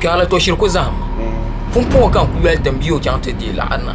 Kpiɔrli tɔ shiri ku zahimma. Pumpɔŋɔ ka n ku yoli tim bee o chaŋ ti deei laɣiri na.